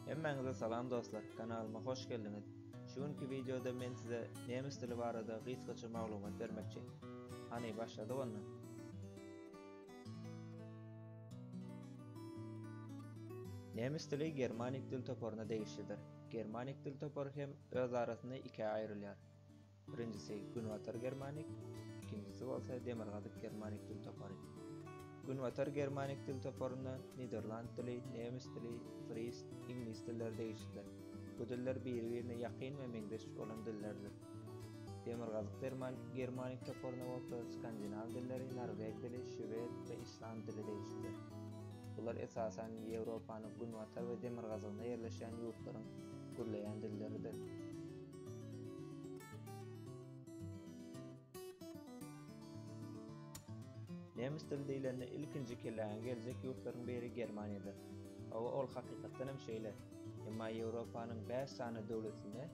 Hemmäňize salam dostlar, kanalyma hoş geldiňiz. Şu günki wideoda men size nemes dili barada gysgaça maglumat bermekçi. Hany başladyk onda. Nemes dili germanik dil toparyna degişlidir. Germanik dil topary hem öz arasynda ikä aýrylýar. Birinjisi Günbatar germanik, ikinjisi bolsa Demirgazyk germanik dil topary. Günbatar germanik dil toparyna niderland dili, nemes dili, fris, iňlis dilleri degişlidir. Bu diller biri-birine ýakyn we meňzeş bolan dillerdir. Demirgazyk germanik toparyna bolsa skandinaw dilleri, norweg dili, şwed we island dili degişlidir. Bular esasan Ýewropanyň günbatar we demirgazygynda ýerleşýän ýurtlaryň gürleýän dilleridir. Nemes dili diýlende ilkinji kelläňe geljek ýurtlaryň biri Germaniýadyr. Hawa, ol hakykatdan hem şeýle. Emma Ýewropanyň bäş sany döwletinde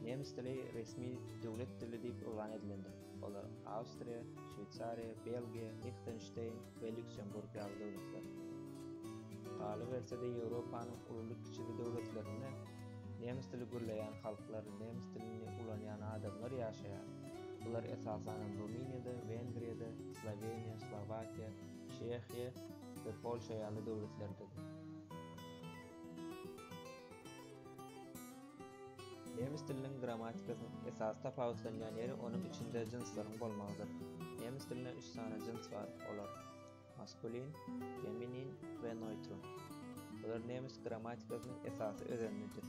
nemes dili resmi döwlet dili diýip yglan edilendir. Olar Awstriýa, Şweýsariýa, Belgiýa, Lihtenşteýn we Lýuksemburg ýaly döwletler. Galyberse-de Ýewropanyň ululy-kiçili döwletlerinde nemes dili gürleýän halklar, nemes dilini ulanýan adamlar ýaşaýar. Bular esasanam Rumyniýada, Wengriýada, Sloweniýa, Slowakiýa, Çehiýa we Polşa ýaly döwletlerdedir. Nemes diliniň grammatikasynyň esasy tapawutlanýan ýeri onuň içinde jynslaryň bolmagydyr. Nemes dilinde üç sany jyns bar, olar, maskulin, feminin we neutrum. Bular nemes grammatikasynyň esasy özenidir.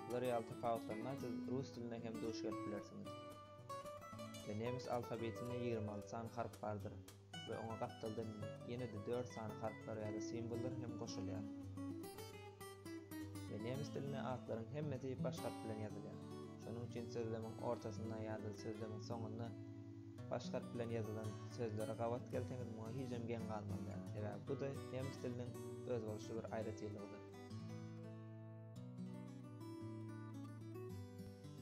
Bular ýaly tapawutlanma siz rus dilinde hem duş gelip bilersiňiz. Nemes alfabetinde ýigrimi alty sany harp bardyr. we oňa gapdaldan ýene-de dört sany harplar ýa-da simwollar hem goşulýar. We nemes dilinde atlaryň hemmesi baş harp bilen ýazylýar. Şonuň üçin sözlemiň ortasynda ýa-da sözlemiň soňunda baş harp bilen ýazylan sözleri gabat gelseňiz muňa hijem geň galmaly däl, sebäbi bu-da nemes diliniň özboluşly bir aýratynlygydyr.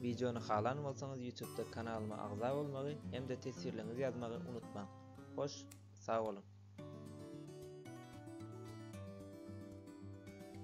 Wideony halan bolsaňyz ýutubda kanalyma agza bolmagy hem-de teswirleňizi ýazmagy unutmaň. Hoş, sag boluň!